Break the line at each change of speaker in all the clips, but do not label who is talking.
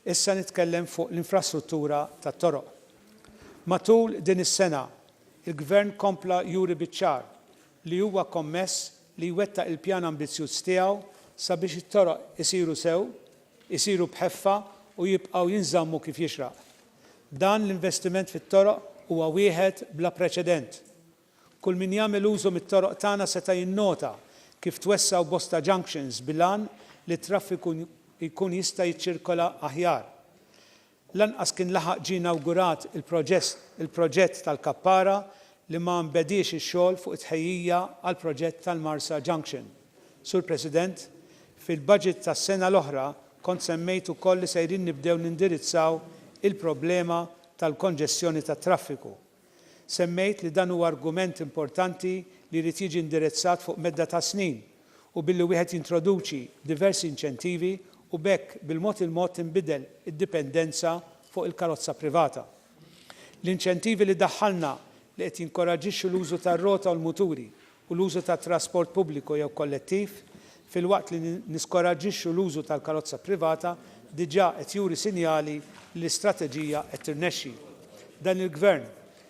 Issa nitkellem fuq l-infrastruttura tat-toroq. Matul din is-sena, il-Gvern kompla juri biċ-ċar li huwa kommess li jwettaq il-pjan ambizzjuż tiegħu sabiex it-toroq isiru sew, isiru b'ħeffa u jibqgħu jinżammu kif jixraq, Dan l-investiment fit-toroq huwa wieħed bla preċedent. Kull min jagħmel użu mit-toroq tagħna seta' jinnota kif twessgħu bosta junctions bil-għan li t-traffiku jkun jista' jiċċirkola aħjar. Lanqas kien laħaq ġie inawgurat il-proġett tal-kappara li ma nbediex ix-xogħol fuq it-tħejjija għall-proġett tal-Marsa Junction. Sur President, fil-budget tas-sena l-oħra kont semmejt ukoll li sejrin nibdew nindirizzaw il-problema tal-konġestjoni tat-traffiku. Semmejt li dan huwa argument importanti li jrid jiġi indirezzat fuq medda ta' snin u billi wieħed jintroduċi diversi inċentivi u b'hekk bil-mod il-mod tinbidel id-dipendenza fuq il-karozza privata. L-inċentivi li daħħalna li qed jinkoraġġixxu l-użu tar-rota u l-muturi u l-użu tat-trasport pubbliku jew kollettiv, filwaqt li niskoraġġixxu l-użu tal-karozza privata, diġà qed juri sinjali li l-istrateġija qed tirnexxi. Dan il-Gvern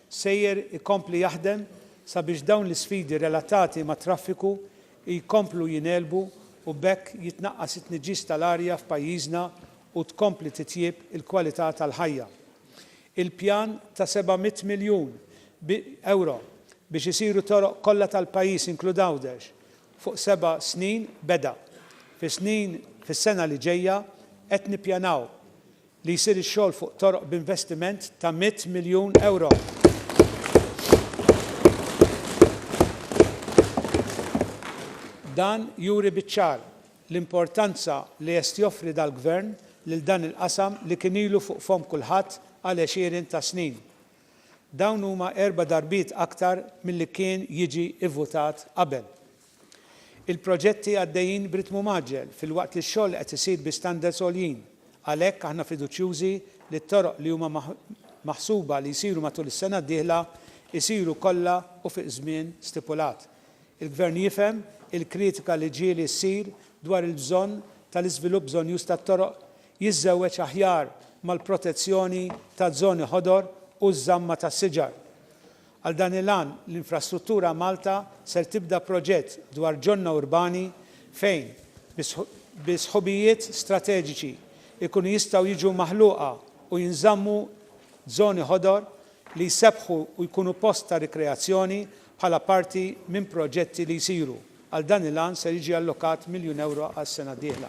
sejjer ikompli jaħdem sabiex dawn l-isfidi relatati mat-traffiku jkomplu jingħelbu u b'hekk jitnaqqas it-tniġġis tal-arja f'pajjiżna u tkompli titjieb il-kwalità tal-ħajja. Il-pjan ta' 700 miljun ewro biex isiru toroq kollha tal-pajjiż inklud Għawdex fuq seba' snin beda. Fis-snin fis-sena li ġejja qed nippjanaw li jsir ix-xogħol fuq toroq b'investiment ta' 100 miljun ewro. Dan juri biċ-ċar l-importanza li jest joffri dal-Gvern lil dan il-qasam li kien ilu fuq fomm kulħadd għal għexieren ta' snin. Dawn huma erba' darbiet aktar milli kien jiġi ivvutat qabel. Il-proġetti għaddejjin b'ritmu mgħaġġel filwaqt li x-xogħol qed isir bi standards għoljin. Għalhekk aħna fiduċjużi li t-toroq li huma maħsuba li jsiru matul is-sena d-dieħla jsiru kollha u fi żmien stipulat. Il-Gvern jifhem il-kritika li ġieli ssir dwar il-bżonn tal-iżvilupp bżonnjuż tat-toroq, jiżżewweġ aħjar mal-protezzjoni taż-żoni ħodor u ż-żamma tas-siġar. Għal dan il-għan, l-Infrastruttura Malta ser tibda proġett dwar ġonna urbani fejn, bi sħubijiet strateġiċi, ikunu jistgħu jiġu maħluqa u jinżammu żoni ħodor li jsebbħu u jkunu post ta' rikreazzjoni Bħala parti minn proġetti li jsiru għal dan il-għan ser jiġi allokat miljun ewro għas-sena d-dieħla.